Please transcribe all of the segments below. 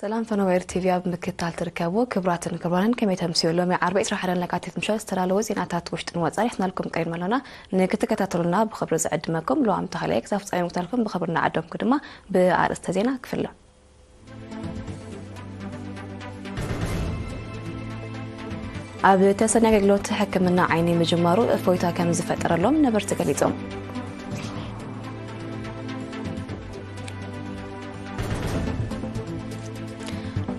ሰላም ፈነወ ኤርቲቪ ኣብ ምክትታል ትርከቡ ክብራትን ክብራንን ከመይ ተምስዮ ሎሚ ዓርቢ 21 ለካቲት ምሸት ዝተላለወ ዜናታት ውሽጥን ወፃን ይሕናልኩም ቀሪብና ኣሎና ንክትከታተሉና ብክብሪ ዝዕድመኩም ለዋም ተኸላይ ክሳብ ፍፃሚ ምክታልኩም ብክብሪ ንዓደምኩ ድማ ብኣርእስተ ዜና ክፍለ ኣብ ተሰኒ ኣገልግሎት ሕክምና ዓይኒ ምጅማሩ እፎይታ ከም ዝፈጠረሎም ነበርቲ ገሊፆም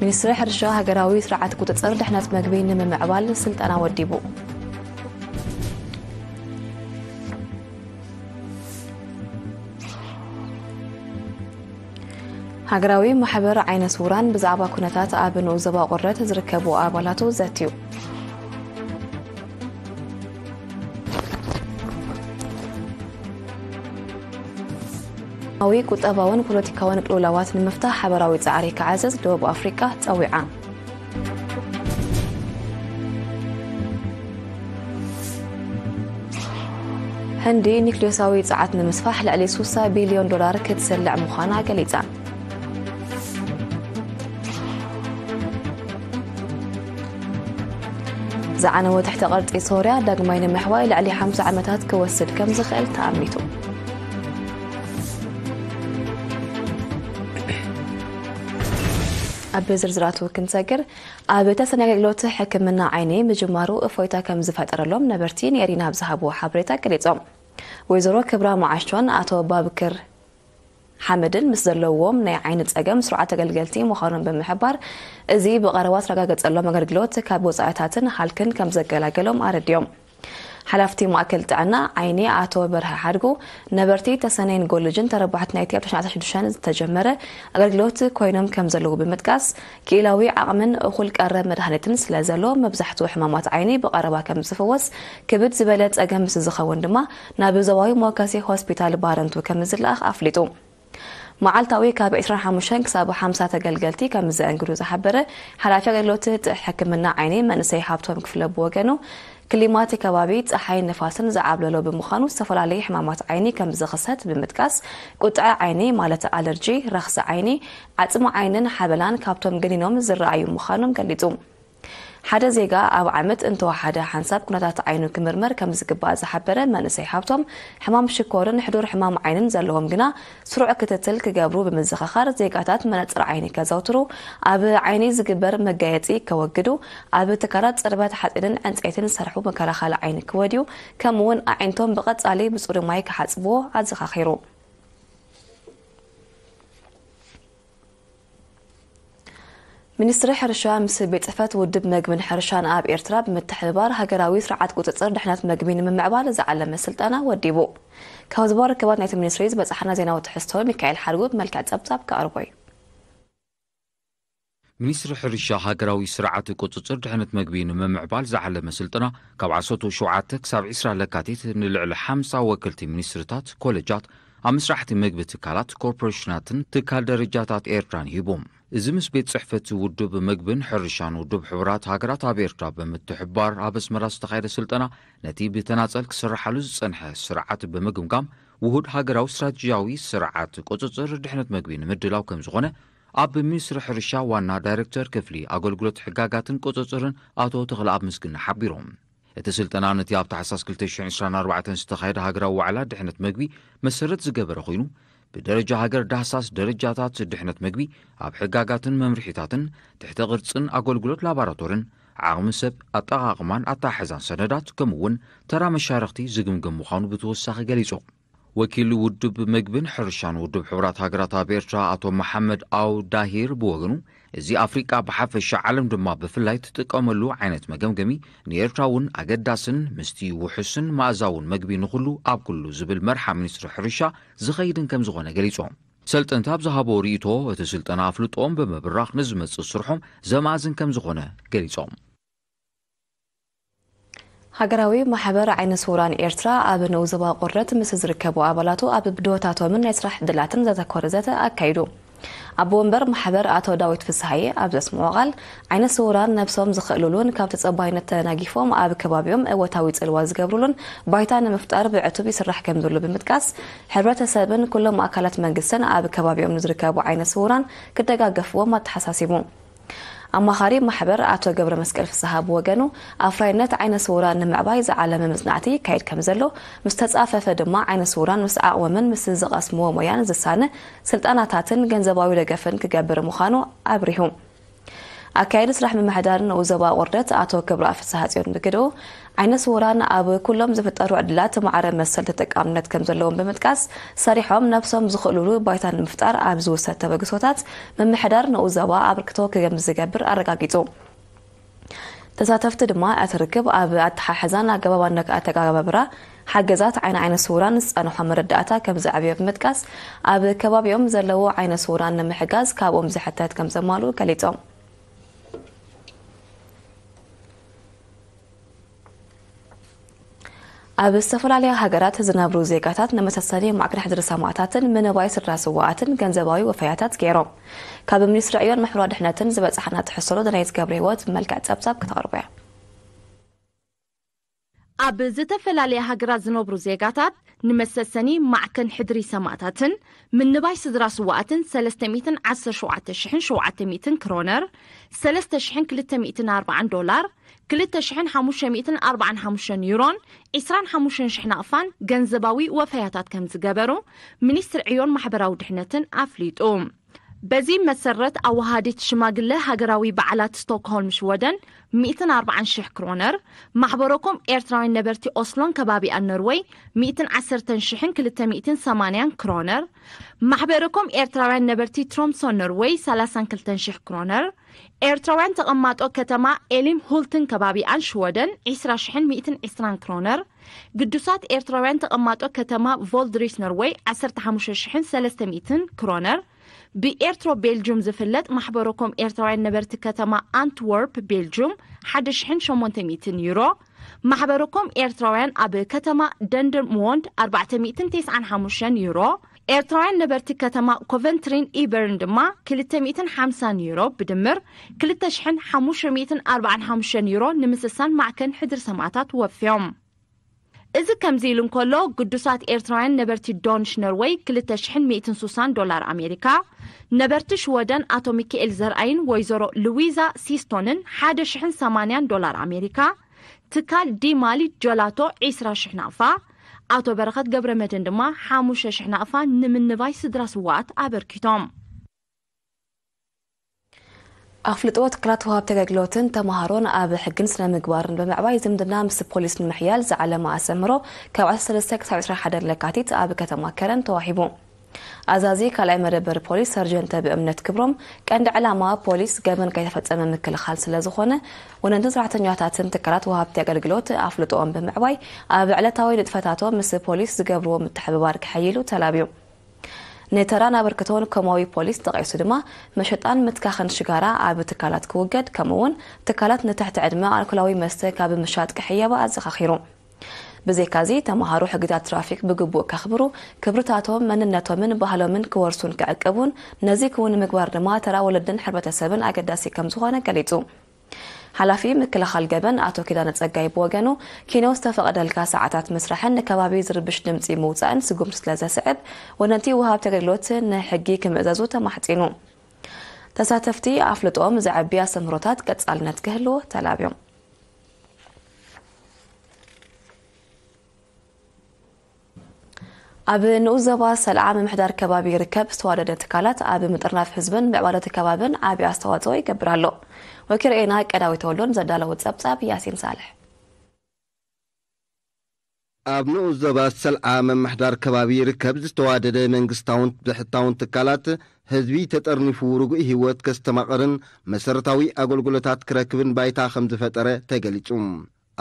ሚኒስትሪ ሕርሻ ሃገራዊ ስርዓት ቁፅፅር ድሕነት መግቢ ንምምዕባል ስልጠና ወዲቡ ሃገራዊ ማሕበር ዓይነ ስውራን ብዛዕባ ኩነታት ኣብ ንኡስ ዞባ ቁረት ዝርከቡ ኣባላቱ ዘትዩ ኣዊ ቁጠባውን ፖለቲካውን ቅልውላዋት ንምፍታሕ ሓበራዊ ፃዕሪ ክዓዝዝ ደቡብ ኣፍሪቃ ፀዊዓ ህንዲ ኒክሌሳዊ ጸዓት ንምስፋሕ ልዕሊ 60 ቢልዮን ዶላር ክትሰልዕ ምዃና ገሊጻ ዝዓነወ ትሕተ ቅርጺ ሶርያ ዳግማይ ንምሕዋይ ልዕሊ 50 ዓመታት ክወስድ ከም ዝኽእል ተኣሚቱ ኣብ ዝርዝራቱ ክንሰግር፣ ኣብ ተሰኒ ኣገልግሎት ሕክምና ዓይኒ ምጅማሩ እፎይታ ከምዝፈጠረሎም ነበርቲ ንኤሪና ኣብ ዝሃብዎ ሓበሬታ ገሊፆም። ወይዘሮ ክብራ መዓሾን ኣቶ ባብክር ሓመድን ምስ ዘለውዎም ናይ ዓይኒ ፀገም ስሩዓት ተገልገልቲ ምዃኖም ብምሕባር፣ እዚ ብቐረባ ዝተረጋገፀሎም ኣገልግሎት ካብ ወፃኢታትን ሃልክን ከምዘገላገሎም ኣረዲኦም። ሓላፍቲ ማእከል ጥዕና ዓይኒ ኣቶ በርሀ ሓድጉ፣ ነበርቲ ተሰነይን ጎልጅን ተረባሕቲ ናይቲ ኣብ ተሽዓተ ሽዱሽተ ዝተጀመረ ኣገልግሎት ኮይኖም ከም ዘለዉ ብምጥቃስ፣ ክኢላዊ ዓቕምን እኹል ቀረብ መድሃኒትን ስለ ዘሎ መብዛሕትኡ ሕማማት ዓይኒ ብቐረባ ከም ዝፍወስ፣ ክብድ ዝበለ ጸገም ምስ ዝኸውን ድማ ናብ ዞባዊ መወከሲ ሆስፒታል ባረንቱ ከም ዝለኣኽ ኣፍሊጡ። መዓልታዊ ካብ ዕስራን ሓሙሽተን ክሳብ ሓምሳ ተገልገልቲ ከምዘእንግዱ ዝሓበረ ሓላፊ ኣገልግሎት ሕክምና ዓይኒ መንእሰይ ሃብቶም ክፍለ ብወገኑ፣ ክሊማ'ቲ ከባቢ ጸሓይን ንፋስን ዝዓብለሎ ብምዃኑ ዝተፈላለዩ ሕማማት ዓይኒ ከምዝኽሰት ብምጥቃስ፣ ቁጥዐ ዓይኒ ማለት ኣለርጂ፣ ረኽሲ ዓይኒ፣ ዓጽሚ ዓይንን ሓበላን ካብቶም ገኒኖም ዝረኣዩ ምዃኖም ገሊጹ። ሓደ ዜጋ ኣብ ዓመት እንተወሓደ ሓንሳብ ኩነታት ዓይኑ ክምርመር ከምዝግባእ ዝሓበረ መንእሰይ ሃብቶም፣ ሕማም ሽኮርን ሕዱር ሕማም ዓይንን ዘለዎም ግና ስሩዕ ክትትል ክገብሩ ብምዝኽኻር ዜጋታት መነፅር ዓይኒ ከዘውትሩ፣ ኣብ ዓይኒ ዝግበር መጋየፂ ከወግዱ፣ ኣብ ትካላት ፅርበት ሓፂንን ዕንፀይትን ዝሰርሑ መከላኸሊ ዓይኒ ክወድዩ ከምኡ ውን ኣዒንቶም ብቐፃሊ ብፅሩይ ማይ ክሓፅብዎ ኣዘኻኺሩ። ሚኒስትሪ ሕርሻ ምስ ቤት ፅሕፈት ውድብ መግብን ሕርሻን ኣብ ኤርትራ ብምትሕብባር ሃገራዊ ስርዓት ቁፅፅር ድሕነት መግቢ ንምምዕባል ዝዓለመ ስልጠና ወዲቡ። ካብ ዝባ ርክባት ናይቲ ሚኒስትሪ ዝበፅሓና ዜናዊ ትሕዝቶ ሚካኤል ሓድጉ ብመልክዕ ጸብጻብ ክቐርቦ እዩ። ሚኒስትሪ ሕርሻ ሃገራዊ ስርዓት ቁፅፅር ድሕነት መግቢ ንምምዕባል ዝዓለመ ስልጠና ካብ ዓሰርተ ሸውዓተ ክሳብ ዕስራ ለካቲት ንልዕሊ ሓምሳ ወከልቲ ሚኒስትርታት፣ ኮለጃት፣ ኣብ ምስራሕቲ መግቢ ትካላት፣ ኮርፖሬሽናትን ትካል ደረጃታት ኤርትራን ሂቡ። እዚ ምስ ቤት ጽሕፈት ውድብ መግብን ሕርሻን ውድብ ሕቡራት ሃገራት ኣብ ኤርትራ ብምትሕብባር ኣብ ኣስመራ ዝተኻየደ ስልጠና ነቲ ብተናጸል ክስርሓሉ ዝጸንሐ ስርዓት ብምግምጋም ውሁድ ሃገራዊ ስትራቴጂያዊ ስርዓት ቁጽጽር ድሕነት መግቢ ንምድላው ከም ዝኾነ ኣብ ሚኒስትሪ ሕርሻ ዋና ዳይረክተር ክፍሊ ኣገልግሎት ሕጋጋትን ቁጽጽርን ኣቶ ተኽለኣብ ምስግና ሓቢሮም። እቲ ስልጠና ነቲ ኣብ ታሕሳስ ክልተ ሽሕ ዕስራን ኣርባዕተን ዝተኻየደ ሃገራዊ ዋዕላ ድሕነት መግቢ መሰረት ዝገበረ ኮይኑ፣ ብደረጃ ሃገር ዳህሳስ ደረጃታት ድሕነት መግቢ ኣብ ሕጋጋትን መምርሒታትን፣ ትሕተ ቅርጽን ኣገልግሎት ላባራቶርን፣ ዓቕሚ ሰብ፣ ኣጠቓቕማን ኣተሓሕዛን ሰነዳት ከምኡ'ውን ተራ መሻርኽቲ ዝግምገም ምዃኑ ብተወሳኺ ገሊጾም። ወኪል ውድብ መግብን ሕርሻን ውድብ ሕቡራት ሃገራት ኣብ ኤርትራ ኣቶ መሓመድ ኣው ዳሂር ብወገኑ እዚ ኣፍሪቃ ብሓፈሻ ዓለም ድማ ብፍላይ ትጥቀመሉ ዓይነት መገምገሚ ንኤርትራ እውን ኣገዳስን ምስቲ ውሑስን መኣዛውን መግቢ ንኹሉ ኣብ ኩሉ ዝብል መርሓ ሚኒስትሪ ሕርሻ ዝኸይድን ከም ዝኾነ ገሊጾም። ሰልጠንቲ ኣብ ዝሃቦ ርእይቶ እቲ ስልጠና ኣፍልጦኦም ብምብራኽ ንዝመጽእ ስርሖም ዘማእዝን ከም ዝኾነ ገሊጾም። ሃገራዊ ማሕበር ዓይነ ስውራን ኤርትራ ኣብ ንኡስ ዞባ ቁርት ምስ ዝርከቡ ኣባላቱ ኣብ ብድሆታቶምን ናይ ስራሕ ዕድላትን ዘተኮረ ዘተ ኣካይዱ። ኣቦ ወንበር ማሕበር ኣቶ ዳዊት ፍስሃየ ኣብ ዘስምዖ ቃል ዓይነ ስውራን ነብሶም ዝኽእልሉን ካብ ተጸባይነት ተናጊፎም ኣብ ከባቢኦም እወታዊ ጽልዋ ዝገብሩሉን ባይታ ንምፍጣር ብዕቱብ ይስራሕ ከም ዘሎ ብምጥቃስ ሕብረተሰብን ኩሎም ኣካላት መንግስትን ኣብ ከባቢኦም ንዝርከቡ ዓይነ ስውራን ክደጋገፍዎም ኣተሓሳሲቡ ኣማኻሪ ማሕበር ኣቶ ገብረመስቀል ፍስሃ ብወገኑ፣ ኣፍራይነት ዓይነ ስውራን ንምዕባይ ዝዓለመ መጽናዕቲ ይካየድ ከምዘሎ፣ ምስ ተጻፈፈ ድማ ዓይነ ስውራን ምስ ዓቕሞምን ምስ ዝቐስምዎ ሞያን ዝሳነ ስልጣናታትን ገንዘባዊ ደገፍን ክገብር ምዃኑ ኣብሪሁ። ኣካያዲ ስራሕ ምምሕዳር ንኡስ ዞባ ኣቑርደት ኣቶ ክብረኣብ ፍስሃጽዮን ብግደኡ፣ ዓይነ ስዉራን ኣብ ኩሎም ዝፍጠሩ ዕድላት ማዕረ መሰል ተጠቃምነት ከምዘለዎም ብምጥቃስ፣ ሰሪሖም ነብሶም ዝኽእሉሉ ባይታ ንምፍጣር ኣብ ዝውሰድ ተበግሶታት ምምሕዳር ንኡስ ዞባ ኣበርክቶ ክገምዝገብር ኣረጋጊጹ። ተሳተፍቲ ድማ እቲ ርክብ ኣብ ኣተሓሕዛን ኣገባብ ኣነኣተጋጋባብራ ሓገዛት ዓይኒ ዓይነ ስዉራን ዝጸንሖ መረዳእታ ከምዘዕብዮ ብምጥቃስ፣ ኣብ ከባቢኦም ዘለዉ ዓይነ ስዉራን ንምሕጋዝ ካብኦም ዝሕተት ከምዘማልኡ ገሊጾም። ኣብ ዝተፈላለያ ሃገራት ዝነብሩ ዜጋታት ንመሰሰሊ ማዕከን ሕድሪ ሰማእታትን ምንባይ ስድራ ስዋኣትን ገንዘባዊ ወፈያታት ገይሮም ካብ ሚኒስትሪ ዕዮን ምሕብራ ድሕነትን ዝበፅሓና ትሕሰሎ ደናይት ገብረ ህይወት ብመልክዕ ፀብፃብ ክተቕርቦ እያ ኣብ ዝተፈላለያ ሃገራት ዝነብሩ ዜጋታት ንመሰሰኒ ማዕከን ሕድሪ ሰማእታትን ምንባይ ስድራ ስዉኣትን ሰለስተ ሚእትን ዓሰርተ ሸውዓተ ሽሕን ሸውዓተ ሚእትን ክሮነር፣ ሰለስተ ሽሕን ክልተ ሚእትን ኣርብዓን ዶላር፣ ክልተ ሽሕን ሓሙሽተ ሚእትን ኣርብዓን ሓሙሽተን ዩሮን ዕስራን ሓሙሽተን ሽሕ ናቕፋን ገንዘባዊ ወፈያታት ከምዝገበሩ ሚኒስትሪ ዕዮን ማሕበራዊ ድሕነትን ኣፍሊጡ። በዚ መሰረት ኣወሃሃዲት ሽማግለ ሃገራዊ በዓላት ስቶክሆልም ሽወደን ሚእትን ኣርብዓን ሽሕ ክሮነር፣ ማሕበረኮም ኤርትራውያን ነበርቲ ኦስሎን ከባቢኣን ኖርወይ ሚእትን ዓሰርተን ሽሕን ክልተ ሚእትን ሰማንያን ክሮነር፣ ማሕበረኮም ኤርትራውያን ነበርቲ ትሮምሶን ኖርወይ ሰላሳን ክልተን ሽሕ ክሮነር፣ ኤርትራውያን ተቐማጦ ከተማ ኤሊምሁልትን ከባቢኣን ሽወደን ዕስራ ሽሕን ሚእትን ዕስራን ክሮነር፣ ግዱሳት ኤርትራውያን ተቐማጦ ከተማ ቮልድሪስ ኖርወይ ዓሰርተ ሓሙሽተ ሽሕን ሰለስተ ሚእትን ክሮነር፣ ብኤርትሮ ቤልጁም ዝፍለጥ ማሕበረ ኮም ኤርትራውያን ነበርቲ ከተማ ኣንትወርፕ ቤልጁም ሓደ ሽሕን ሸሞንተ ሚእትን ዩሮ፣ ማሕበረ ኮም ኤርትራውያን ኣብ ከተማ ደንደርምዎንድ ኣርባዕተ ሚእትን ቴስዓን ሓሙሽተን ዩሮ፣ ኤርትራውያን ነበርቲ ከተማ ኮቨንትሪን ኢበርን ድማ ክልተ ሚእትን ሓምሳን ዩሮ ብድምር ክልተ ሽሕን ሓሙሽተ ሚእትን ኣርባዓን ሓሙሽተን ዩሮ ንምስሳን ማዕከን ሕድሪ ሰማእታት ወፍዮም እዚ ከምዚ ኢሉ እንከሎ ግዱሳት ኤርትራውያን ነበርቲ ዶንሽ ኖርወይ ክልተ ሽሕን ሚእትን ሱሳን ዶላር ኣሜሪካ ነበርቲ ሽወደን ኣቶ ሚካኤል ዘርኣይን ወይዘሮ ልዊዛ ሲስቶንን ሓደ ሽሕን ሰማንያን ዶላር ኣሜሪካ ትካል ዲ ማሊት ጀላቶ ዒስራ ሽሕ ናቕፋ፣ ኣቶ በረኸት ገብረመድህን ድማ ሓሙሽተ ሽሕ ናቕፋ ንምንባይ ስድራ ስዉኣት ኣበርኪቶም። ኣፍልጦ ትካላት ወሃብቲ ኣገልግሎትን ተማሃሮን ኣብ ሕግን ስነ ምግባርን ብምዕባይ ዝምድና ምስ ፖሊስ ንምሕያል ዝዓለመ ኣስተምህሮ ካብ ዓሰርተ ሰለስተ ክሳብ ዕስራን ሓደን ለካቲት ኣብ ከተማ ከረን ተዋሂቡ። ኣዛዚ ካልኣይ መደበር ፖሊስ ሰርጀንት ተብእምነት ክብሮም፣ ቀንዲ ዕላማ ፖሊስ ገበን ከይተፈፀመ ምክልኻል ስለዝኾነ ወነንትን ሰራሕተኛታትን ትካላት ወሃብቲ ኣገልግሎት ኣፍልጦኦም ብምዕባይ ኣብ ዕለታዊ ንጥፈታቶም ምስ ፖሊስ ዝገብርዎ ምትሕብባር ከሐይሉ ተላብዩ። ንተራን ኣበርክቶን ኮማዊ ፖሊስ ጠቒሱ ድማ መሸጣን ምትካኽን ሽጋራ ኣብ ትካላት ክውገድ ከምኡ እውን ትካላት ንትሕቲ ዕድመ ኣልኮላዊ መስተ ካብ ምሻጥ ክሕየባ ኣዘኻኺሩ። ብዘይካዚ ተምሃሮ ሕግታት ትራፊክ ብግቡእ ከኽብሩ፣ ክብርታቶም፣ መንነቶምን ባህሎምን ክወርሱን ክዕቅቡን፣ ነዚ ክውን ንምግባር ድማ ተራ ወለድን ሕብረተሰብን ኣገዳሲ ከምዝኾነ ገሊፁ። ሓላፊ ምክልኻል ገበን ኣቶ ኪዳነ ፀጋይ ብወገኑ፣ ኪኖ ዝተፈቐደልካ ሰዓታት ምስራሕን ንከባቢ ዝርብሽ ድምፂ ምውፃእን ስጉምቲ ስለዘስዕብ ወነንቲ ወሃብቲ ኣገልግሎት ንሕጊ ክምእዘዙ ተማሕፂኑ። ተሳተፍቲ ኣፍልጦኦም ዘዕቢ ኣስተምህሮታት ቀፃልነት ክህልዎ ተላብዮም። ኣብ ንኡስ ዘባ ሰልዓ ምምሕዳር ከባቢ ይርከብ ዝተዋደደ ትካላት ኣብ ምጥርናፍ ህዝብን ምዕባለቲ ከባብን ዓብዪ ኣስተዋፅኦ ይገብር ኣሎ ወኪርኤና ቀዳዊ ተወሎን ዘዳለዎ ፀብፃብ ያሲን ሳልሕ ኣብ ንኡስ ዞባ ሰልዓ ምምሕዳር ከባቢ ይርከብ ዝተዋደደ መንግስታውን ብሕታውን ትካላት፣ ህዝቢ ተጠርኒፉ ርጉእ ህይወት ከስተማቕርን መሰረታዊ ኣገልግሎታት ክረክብን ባይታ ከምዝፈጠረ ተገሊፁ።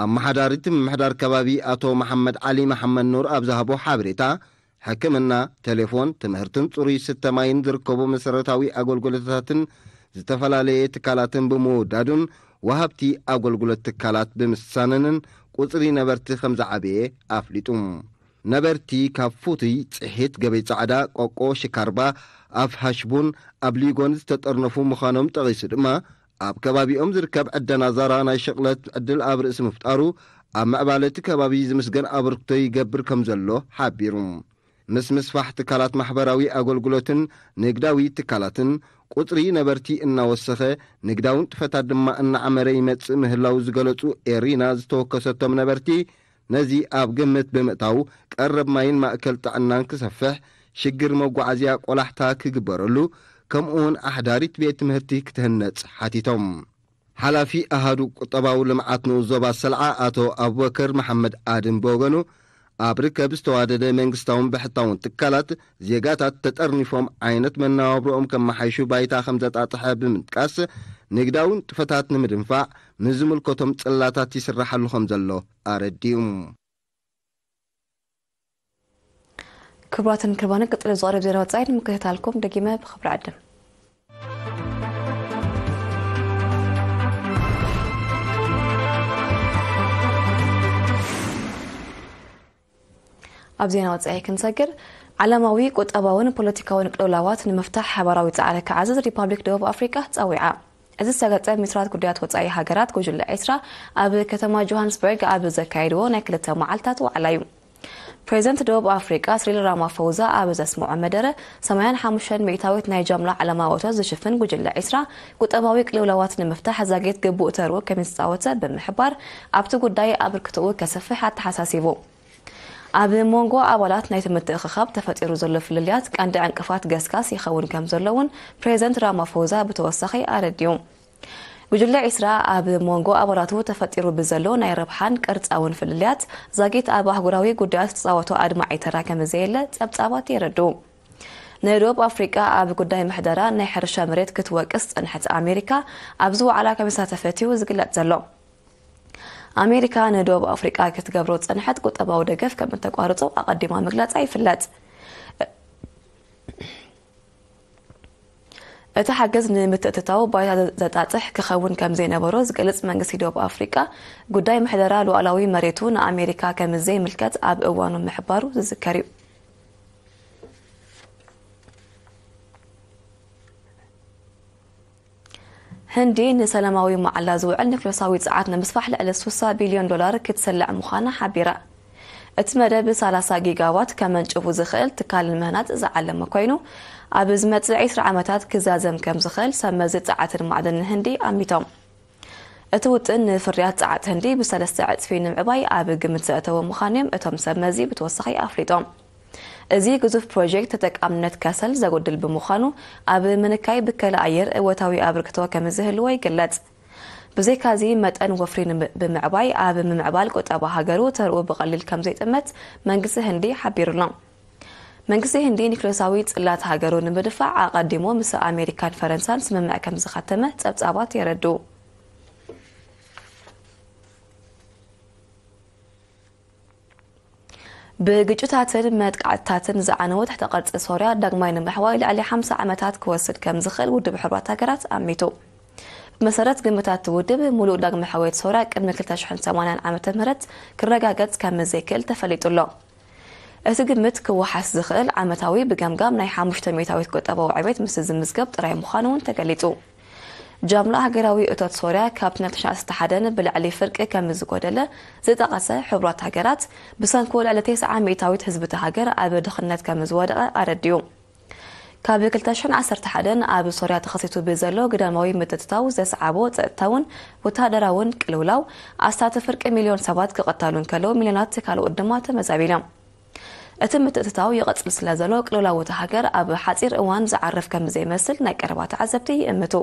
ኣመሓዳሪ እቲ ምምሕዳር ከባቢ ኣቶ መሓመድ ዓሊ መሓመድኑር ኣብ ዝሃቦ ሓበሬታ፣ ሕክምና፣ ቴሌፎን፣ ትምህርትን ጽሩይ ስተ ማይን ዝርከቡ መሰረታዊ ኣገልግሎታትን ዝተፈላለየ ትካላትን ብምውዳዱን ወሃብቲ ኣገልግሎት ትካላት ብምስሳነንን ቁጽሪ ነበርቲ ከምዝዓበየ ኣፍሊጡ። ነበርቲ ካብ ፉቱይ፣ ጽሒት፣ ገበይ ጻዕዳ፣ ቆቆ፣ ሽካርባ፣ ኣፍ ሃሽቡን ኣብ ሊጎን ዝተጠርነፉ ምዃኖም ጠቒሱ ድማ ኣብ ከባቢኦም ዝርከብ ዕደና ዛራ ናይ ሽቕለት ዕድል ኣብ ርእሲ ምፍጣሩ፣ ኣብ ምዕባለ እቲ ከባቢ ዝምስገን ኣበርክቶ ይገብር ከምዘሎ ሓቢሩ። ምስ ምስፋሕ ትካላት ማሕበራዊ ኣገልግሎትን ንግዳዊ ትካላትን፣ ቁጽሪ ነበርቲ እናወሰኸ፣ ንግዳዊ ንጥፈታት ድማ እናዓመረ ይመጽእ ምህላዉ ዝገለጹ ኤሪና ዝተወከሰቶም ነበርቲ፣ ነዚ ኣብ ግምት ብምእታው ቀረብ ማይን ማእከል ጥዕናን ክሰፍሕ፣ ሽግር መጓዓዝያ ቆላሕታ ክግበረሉ፣ ከምኡ'ውን ኣሕዳሪት ቤት ትምህርቲ ክትህነጽ ሓቲቶም። ሓላፊ ኣሃዱ ቁጠባዊ ልምዓት ንኡስ ዞባ ሰልዓ ኣቶ ኣቡበከር መሓመድ ኣድም ብወገኑ፣ ኣብ ርከብ ዝተዋደደ መንግስታውን ብሕታውን ትካላት፣ ዜጋታት ተጠርኒፎም ዓይነት መነባብሮኦም ከመሓይሹ ባይታ ከምዘጣጥሐ ብምጥቃስ፣ ንግዳዊ ንጥፈታት ንምድንፋዕ፣ ምስ ዝምልከቶም ጽላታት ይስራሓሉ ከም ዘሎ ኣረዲኡ። ክቡራትን ክቡራንን ቀጺሉ ዝቐርብ ዜና ወጻኢ ንምክትታልኩም ደጊመ ብኽብሪ ዕድም። ኣብ ዜና ወፃኢ ክንሰግር ዓለማዊ ቁጠባውን ፖለቲካውን ቅልውላዋት ንምፍታሕ ሓባራዊ ፃዕሪ ክዓዝዝ ሪፓብሊክ ደቡብ ኣፍሪቃ ፀዊዓ እዚ ዝተገፀ ሚኒስትራት ጉዳያት ወፃኢ ሃገራት ጉጅለ ኤስራ ኣብ ከተማ ጆሃንስበርግ ኣብ ዘካየድዎ ናይ ክልተ መዓልታት ዋዕላ እዩ ፕሬዚደንት ደቡብ ኣፍሪቃ ስሪል ራማፎዛ ኣብ ዘስምዖ መደረ ሰማያን ሓሙሽተን ሚእታዊት ናይ ጃምላ ዓለማዊ እቶት ዝሽፍን ጉጅለ ዒስራ ቁጠባዊ ቅልውላዋት ንምፍታሕ ዛጊት ግቡእ ተርኡ ከምዝተፃወተ ብምሕባር፣ ኣብቲ ጉዳይ ኣበርክቶኡ ከስፍሕ ኣተሓሳሲቡ። ኣብ ሞንጎ ኣባላት ናይቲ ምትእኽኻብ ተፈጢሩ ዘሎ ፍልልያት ቀንዲ ዕንቅፋት ገስጋስ ይኸውን ከምዘሎ እውን ፕሬዚደንት ራማፎዛ ብተወሳኺ ኣረዲኡ። ጉጅለ ዒስራ ኣብ ሞንጎ ኣባላቱ ተፈጢሩ ብዘሎ ናይ ረብሓን ቅርፃውን ፍልልያት ዛጊት ኣብ ኣህጉራዊ ጉዳያት ዝፃወቶ ኣድማዒ ተራ ከምዘየለ ፀብፃባት የረድኡ። ንደቡብ ኣፍሪቃ ኣብ ጉዳይ ምሕደራ ናይ ሕርሻ መሬት ክትወቅስ ዝጸንሐት ኣሜሪካ ኣብዚ ዋዕላ ከም ዝተሳተፈት'ዩ ዝግለጽ ዘሎ። ኣሜሪካ ንደቡብ ኣፍሪቃ ክትገብሮ ዝጸንሐት ቁጠባዊ ደገፍ ከም እተቋርጾ ኣቐዲማ ምግላጻ ይፍለጥ። እቲ ሓገዝ ንምትእትታው ባይታ ዘጣጥሕ ክኸውን ከም ዘይነበሮ ዝገልጽ መንግስቲ ደቡብ ኣፍሪቃ ጉዳይ ምሕደራ ሉዓላዊ መሬቱ ንኣሜሪካ ከም ዘይምልከት ኣብ እዋኑ ምሕባሩ ዝዝከር እዩ። ህንዲ ንሰላማዊ መዓላ ዝውዕል ኒክሎሳዊ ፀዓት ንምስፋሕ ልዕሊ 60 ቢልዮን ዶላር ክትሰልዕ ምዃና ሓቢራ እቲ መደብ 30 ጊጋዋት ከመንጭቡ ዝኽእል ትካል ንምህናፅ ዝዓለመ ኮይኑ ኣብ ዝመፅእ 20 ዓመታት ክዛዘም ከም ዝኽእል ሰብ መዚ ፀዓትን ማዕድንን ህንዲ ኣሚቶም እቲ ውጥን ንፍርያት ጸዓት ህንዲ ብሰለስተ ዕጽፊ ንምዕባይ ኣብ ግምት ዘእተወ ምዃኑ'ዮም እቶም ሰብ መዚ ብተወሳኺ ኣፍሊጦም። እዚ ግዙፍ ፕሮጀክት ተጠቃምነት ከሰል ዘጉድል ብምዃኑ ኣብ ምንካይ ብከላ ኣየር እወታዊ ኣበርክቶ ከምዝህልዎ ይግለጽ። ብዘይካ'ዚ መጠን ወፍሪ ብምዕባይ ኣብ ምምዕባል ቁጠባ ሃገሩ ተርኡ ብቐሊል ከምዘይጥመት መንግስቲ ህንዲ ሓቢሩ'ሎ። መንግስቲ ህንዲ ኒክለሳዊ ጽላት ሃገሩ ንምድፋዕ ኣቐዲሙ ምስ ኣሜሪካን ፈረንሳን ስምምዕ ከም ዝኸተመ ጸብጻባት የረድኡ። ብግጭታትን መጥቃዕትታትን ዝዓነወ ትሕተ ቅርፂ ሶርያ ዳግማይ ንምሕዋይ ልዕሊ 50 ዓመታት ክወስድ ከም ዝኽእል ውድብ ሕቡራት ሃገራት ኣሚቱ ብመሰረት ግምታት እቲ ውድብ ሙሉእ ዳግመ ሕወየት ሶርያ ቅድሚ 280 ዓ ም ክረጋገጽ ከም ዘይክእል ተፈሊጡ ኣሎ እቲ ግምት ክወሓስ ዝኽእል ዓመታዊ ብገምጋም ናይ ሓሙሽተ ሚእታዊት ቁጠባዊ ዕቤት ምስ ዝምዝገብ ጥራይ ምዃኑ'ውን ተገሊጹ። ጃምላ ሃገራዊ እቶት ሶርያ ካብቲ ናይ ተሽዓተ ስተ ሓደ ን ብልዕሊ ፍርቂ ከምዝጎደለ ዝጠቐሰ ሕቡራት ሃገራት፣ ብሰንኩ ልዕሊ ቴስዓ ሚእታዊት ህዝቢ'ታ ሃገር ኣብ ድኽነት ከምዝወደቐ ኣረዲኡ። ካብ ክልተ ሽሕን ዓሰርተ ሓደን ኣብ ሶርያ ተኸሲቱ ብዘሎ ግዳማዊ ምትእትታው ዘስዓቦ ጸጥታውን ወተሃደራውን ቅልውላው ኣስታት ፍርቂ ሚልዮን ሰባት ክቐታሉ እንከለዉ ሚልዮናት ካልኦት ድማ ተመዛቢሎም እቲ ምትእትታው ይቐጽል ስለ ዘሎ ቅልውላው እታ ሃገር ኣብ ሓጺር እዋን ዝዓርፍ ከም ዘይመስል ናይ ቀረባ ተዓዘብቲ ይእምቱ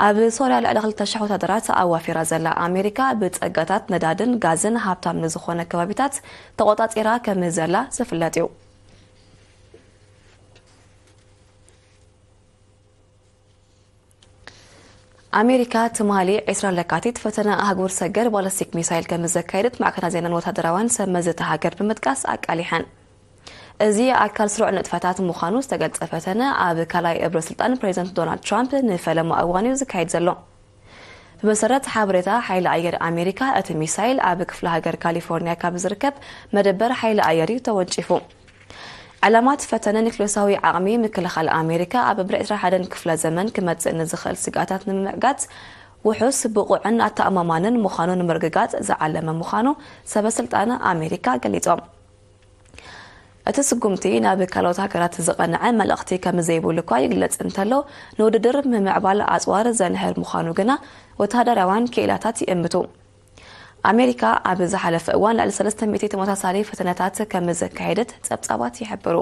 ኣብ ሶርያ ልዕሊ ክልተ ሽሕ ወታደራት ኣዋፊራ ዘላ ኣሜሪካ ብጸጋታት ነዳድን ጋዝን ሃብታም ንዝኾነ ከባቢታት ተቖጻጺራ ከም ዘላ ዝፍለጥ እዩ ኣሜሪካ ትማሊ ዕስራ ለካቲት ፈተነ ኣህጉር ሰገር ባለስቲክ ሚሳይል ከም ዘካየደት ማዕከናት ዜናን ወታደራውያን ሰብ መዚ እታ ሃገር ብምጥቃስ ኣቃሊሐን እዚ ኣካል ስሩዕ ንጥፈታት ምዃኑ ዝተገልጸ ፈተነ ኣብ ካልኣይ እብረ ስልጣን ፕሬዚደንት ዶናልድ ትራምፕ ንፈለማ እዋን እዩ ዝካየድ ዘሎ ብመሰረት ሓበሬታ ሓይሊ ኣየር ኣሜሪካ፣ እቲ ሚሳይል ኣብ ክፍለ ሃገር ካሊፎርንያ ካብ ዝርከብ መደበር ሓይሊ ኣየር እዩ ተወንጪፉ። ዕላማ እቲ ፈተነ ኒክሌሳዊ ዓቕሚ ምክልኻል ኣሜሪካ ኣብ ብር ዕስራን ሓደን ክፍለ ዘመን ክመጽእ ንዝኽእል ስግኣታት ንምምዕጋት ውሑስ፣ ብቑዕን ኣተኣማማንን ምዃኑ ንምርግጋጽ ዝዓለመ ምዃኑ ሰበ ስልጣን ኣሜሪካ ገሊጾም። እቲ ስጉምቲ ናብ ካልኦት ሃገራት ዝቐንዐ መልእኽቲ ከምዘይብሉ እኳ ይግለጽ እንተሎ፣ ንውድድር ምምዕባል ኣጽዋር ዘንህር ምዃኑ ግና ወተሃደራውያን ክኢላታት ይእምቱ። ኣሜሪካ ኣብ ዝሓለፈ እዋን ልዕሊ ሰለስተ ሚእቲ ተመሳሳሊ ፈተነታት ከምዘካየደት ጸብጻባት ይሕብሩ።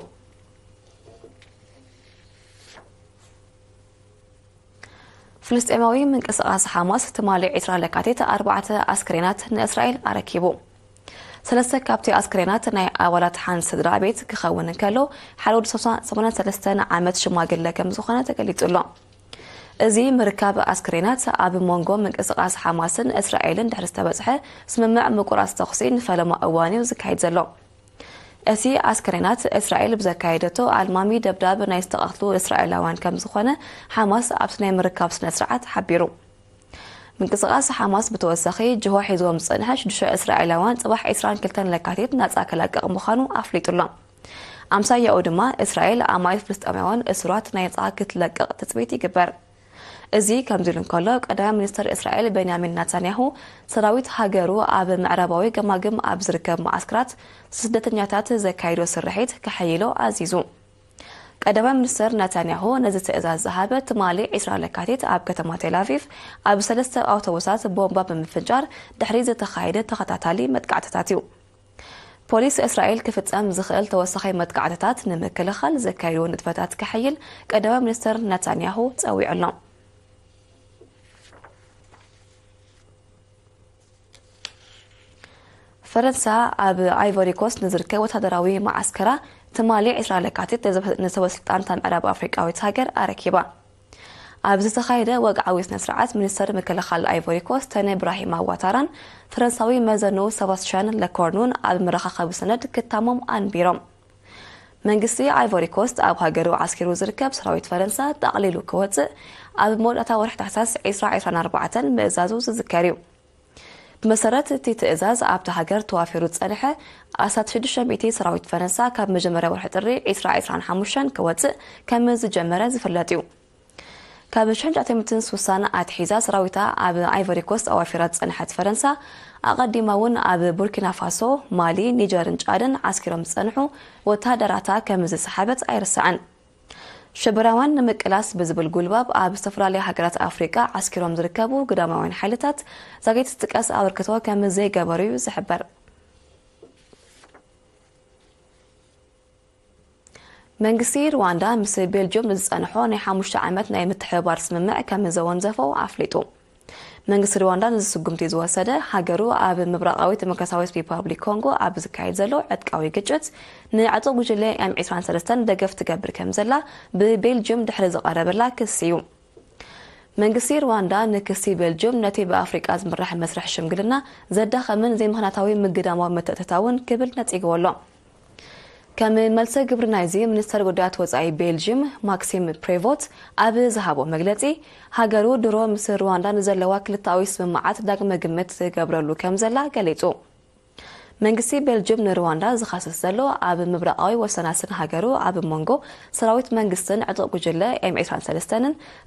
ፍልስጤማዊ ምንቅስቓስ ሓማስ ትማሊ ዕስራ ለካቲት ኣርባዕተ ኣስከሬናት ንእስራኤል ኣረኪቡ። ሰለስተ ካብቲ ኣስክሬናት ናይ ኣባላት ሓንቲ ስድራ ቤት ክኸውን እንከሎ፣ ሓደ ወዲ ሰማንያን ሰለስተን ዓመት ሽማግለ ከም ዝኾነ ተገሊጹ ኣሎ። እዚ ምርካብ ኣስክሬናት፣ ኣብ ሞንጎ ምንቅስቓስ ሓማስን እስራኤልን ድሕሪ ዝተበጽሐ ስምምዕ ምቁራጽ ተኹሲ ንፈለማ እዋን'ዩ ዝካየድ ዘሎ። እቲ ኣስክሬናት፣ እስራኤል ብዘካየደቶ ኣልማሚ ደብዳብ ናይ ዝተቐትሉ እስራኤላውያን ከም ዝኾነ ሓማስ ኣብቲ ናይ ምርካብ ስነ-ስርዓት ሓቢሩ። ምንቅስቓስ ሓማስ ብተወሳኺ ጅሆ ሒዝዎም ዝጸንሐ ሽዱሽተ እስራኤላውያን ጽባሕ ዒስራን ክልተን ለካቲት ናጻ ከላቅቕ ምዃኑ ኣፍሊጡ ኣሎ። ኣምሳያኡ ድማ እስራኤል ኣማኢት ፍልስጤማውያን እሱራት ናይጻ ክትለቅቕ ትጽቢት ይግበር። እዚ ከምዚ ኢሉ እንከሎ ቀዳማይ ሚኒስተር እስራኤል ቤንያሚን ናታንያሁ ሰራዊት ሃገሩ ኣብ ምዕራባዊ ገማግም ኣብ ዝርከብ መዓስከራት ስደተኛታት ዘካይዶ ስርሒት ከሐይሎ ኣዚዙ። ቀዳማይ ሚኒስተር ነታንያሁ ነዚ ትእዛዝ ዝሃበ ትማሊ ዕስራ ለካቲት ኣብ ከተማ ቴልኣቪቭ ኣብ ሰለስተ ኣውቶቡሳት ቦምባ ብምፍንጃር ድሕሪ ዝተኻየደ ተኸታታሊ መጥቃዕትታት እዩ። ፖሊስ እስራኤል ክፍጸም ዝኽእል ተወሳኺ መጥቃዕትታት ንምክልኻል ዘካይዶ ንጥፈታት ከሐይል ቀዳማይ ሚኒስተር ነታንያሁ ጸዊዑ ኣሎ። ፈረንሳ ኣብ ኣይቮሪ ኮስት ንዝርከብ ወታደራዊ መዓስከራ ትማሊ ዕስራ ለካቲት ንሰበስልጣን እታ ምዕራብ ኣፍሪቃዊት ሃገር ኣረኪባ። ኣብ ዝተኻየደ ወግዓዊ ስነ ስርዓት ሚኒስተር ምክልኻል ኣይቮሪ ኮስት ተነ ብራሂማ ዋታራን ፈረንሳዊ መዘንኡ ሰባስቲያን ለኮርኑን ኣብ መረኻኸቢ ሰነድ ክታሞም ኣንቢሮም። መንግስቲ ኣይቮሪኮስት ኣብ ሃገሩ ዓስኪሩ ዝርከብ ሰራዊት ፈረንሳ ጠቕሊሉ ክወጽእ ኣብ መወዳእታ ወርሒ ታሕሳስ 2024 ምእዛዙ ዝዝከር እዩ። ብመሰረት እቲ ትእዛዝ ኣብቲ ሃገር ተዋፊሩ ዝጸንሐ ኣስታት 600 ሰራዊት ፈረንሳ ካብ መጀመርያ ወርሒ ጥሪ 2025 ክወጽእ ከም ዝጀመረ ዝፍለጥ እዩ። ካብ ሽሕን ትሽዓተ ሚእትን ስሳን ኣትሒዛ ሰራዊታ ኣብ ኣይቮሪኮስት ኣዋፊራ ዝጸንሐት ፈረንሳ፣ ኣቐዲማ'ውን ኣብ ቡርኪናፋሶ፣ ማሊ፣ ኒጀርን ጫድን ዓስኪሮም ዝጸንሑ ወተሃደራታ ከም ዝሰሓበት ኣይርሳዕን። ሽበራውያን ንምቅላስ ብዝብል ጉልባብ ኣብ ዝተፈላለያ ሃገራት ኣፍሪቃ ዓስኪሮም ዝርከቡ ግዳማውያን ሓይልታት ዛጊት ዝጥቀስ ኣበርክቶ ከም ዘይገበሩ'ዩ ዝሕበር። መንግስቲ ርዋንዳ ምስ ቤልጅዩም ንዝጸንሖ ናይ ሓሙሽተ ዓመት ናይ ምትሕብባር ስምምዕ ከም ዘወንዘፎ ኣፍሊጡ። መንግስቲ ርዋንዳ ነዚ ስጉምቲ ዝወሰደ፣ ሃገሩ ኣብ ምብራቓዊት ደሞክራስያዊት ሪፓብሊክ ኮንጎ ኣብ ዝካየድ ዘሎ ዕጥቃዊ ግጭት ንዕጡቕ ጉጅለ ኤም ዕስራን ሰለስተን ደገፍ ትገብር ከም ዘላ ብቤልጅዩም ድሕሪ ዝቐረበላ ክሲ እዩ። መንግስቲ ርዋንዳ ንክሲ ቤልጅዩም ነቲ ብኣፍሪቃ ዝምራሕ መስርሕ ሽምግልና ዘዳኸምን ዘይምኽንያታዊ ምግዳማዊ ምትእትታውን ክብል ነጺግዎ ኣሎ። ከም መልሰ ግብሪ ናይዚ ሚኒስተር ጉዳያት ወጻኢ ቤልጂም ማክሲም ፕሬቮት ኣብ ዝሃቦ መግለጺ ሃገሩ ድሮ ምስ ሩዋንዳ ንዘለዋ ክልተኣዊ ስምምዓት ዳግመ ግምት ትገብረሉ ከም ዘላ ገሊጹ። መንግስቲ ቤልጅም ንሩዋንዳ ዝኸስስ ዘሎ ኣብ ምብራቓዊ ወሰናስን ሃገሩ ኣብ መንጎ ሰራዊት መንግስትን ዕጡቕ ጉጅለ ኤም 23ን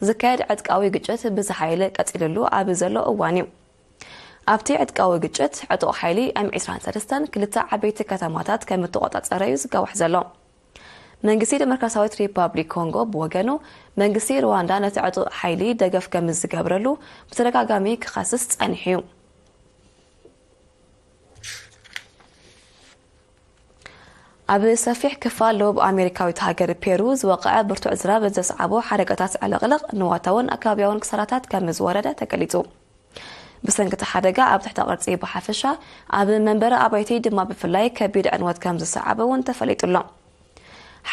ዝካየድ ዕጥቃዊ ግጭት ብዝሓይለ ቀጺልሉ ኣብ ዘሎ እዋን እዩ። ኣብቲ ዕጥቃዊ ግጭት፣ ዕጡቕ ሓይሊ ኤም ዕስራን ሰለስተን ክልተ ዓበይቲ ከተማታት ከም እተቖጻጸረ'ዩ ዝጋዋሕ ዘሎ። መንግስቲ ደሞክራስያዊት ሪፓብሊክ ኮንጎ ብወገኑ፣ መንግስቲ ሩዋንዳ ነቲ ዕጡቕ ሓይሊ ደገፍ ከም ዝገብረሉ ብተደጋጋሚ ክኸስስ ጸኒሑ'ዩ። ኣብ ሰፊሕ ክፋል ደቡብ ኣሜሪካዊት ሃገር ፔሩ ዝወቕዐ ብርቱዕ ዝናብ ዘስዓቦ ሓደጋታት ዕልቕልቕ ንዋታውን ኣከባቢያውን ክሳራታት ከም ዝወረደ ተገሊጹ። ብሰንኪ እቲ ሓደጋ ኣብ ትሕተ ቅርጺ ብሓፈሻ ኣብ መንበሪ ኣባይቲ ድማ ብፍላይ ከቢድ ዕንወት ከም ዝሰዓበ እውን ተፈሊጡ ኣሎ።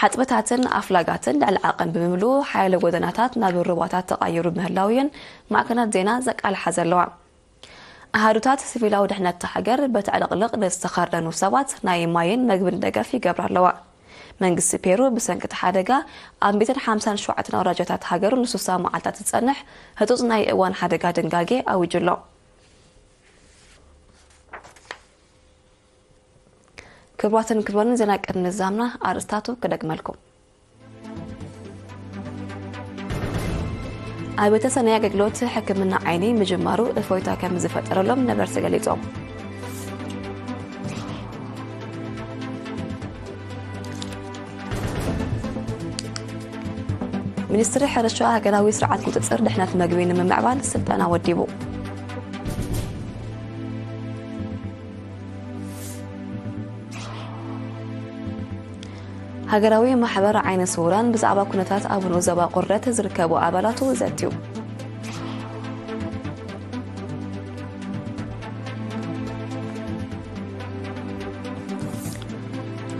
ሓጽብታትን ኣፍላጋትን ልዕሊ ዓቐን ብምምልኡ ሓያሎ ጎደናታት ናብ ሩባታት ተቓይሩ ምህላው እየን ማዕከናት ዜና ዘቃልሓ ዘለዋ። ኣሃዱታት ስቪላዊ ድሕነት እታ ሃገር በቲ ዕልቕልቕ ንዝተኸርደኑ ሰባት ናይ ማይን መግብን ደገፍ ይገብራ ኣለዋ። መንግስቲ ፔሩ ብሰንኪ እቲ ሓደጋ ኣብ ሚእትን ሓምሳን ሸውዓተን ኣውራጃታት ሃገሩ ንሱሳ መዓልታት ዝጸንሕ ህጹጽ ናይ እዋን ሓደጋ ድንጋጌ ኣዊጁ ኣሎ። ክብሯትን ክብሮንን ዜና ቅድሚ ምዛምና ኣርእስታቱ ክደግመልኩም። ኣብተ ሰናይ ኣገልግሎት ሕክምና ዓይኒ ምጅማሩ እፎይታ ከም ዝፈጠረሎም ነበርቲ ገሊፆም ሚኒስትሪ ሕርሻ ሃገራዊ ስርዓት ቁፅፅር ድሕነት መግቢ ንምምዕባል ስልጠና ወዲቡ ሃገራዊ ማሕበር ዓይነ ስውራን ብዛዕባ ኩነታት ኣብ ንኡ ዘባ ቁርደት ዝርከቡ ኣባላቱ ዘትዩ።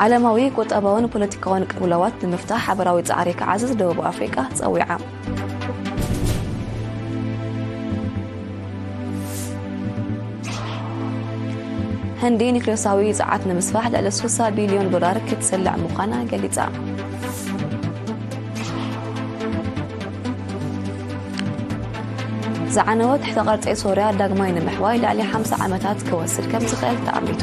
ዓለማዊ ቁጠባውን ፖለቲካውን ቅብለዋት ንምፍታሕ ሓበራዊ ፃዕሪ ክዓዝዝ ደቡብ ኣፍሪቃ ፀዊዓ ህንዲ ኒክሌሳዊ ፀዓት ንምስፋሕ ልዕሊ 60 ቢልዮን ዶላር ክትስልዕ ምዃና ገሊፃ ዝዓነወ ትሕተ ቐርፀ ሶርያ ዳግማይ ንምሕዋይ ልዕሊ 50 ዓመታት ክወስድ ከም ዝኽእል ተኣሚቱ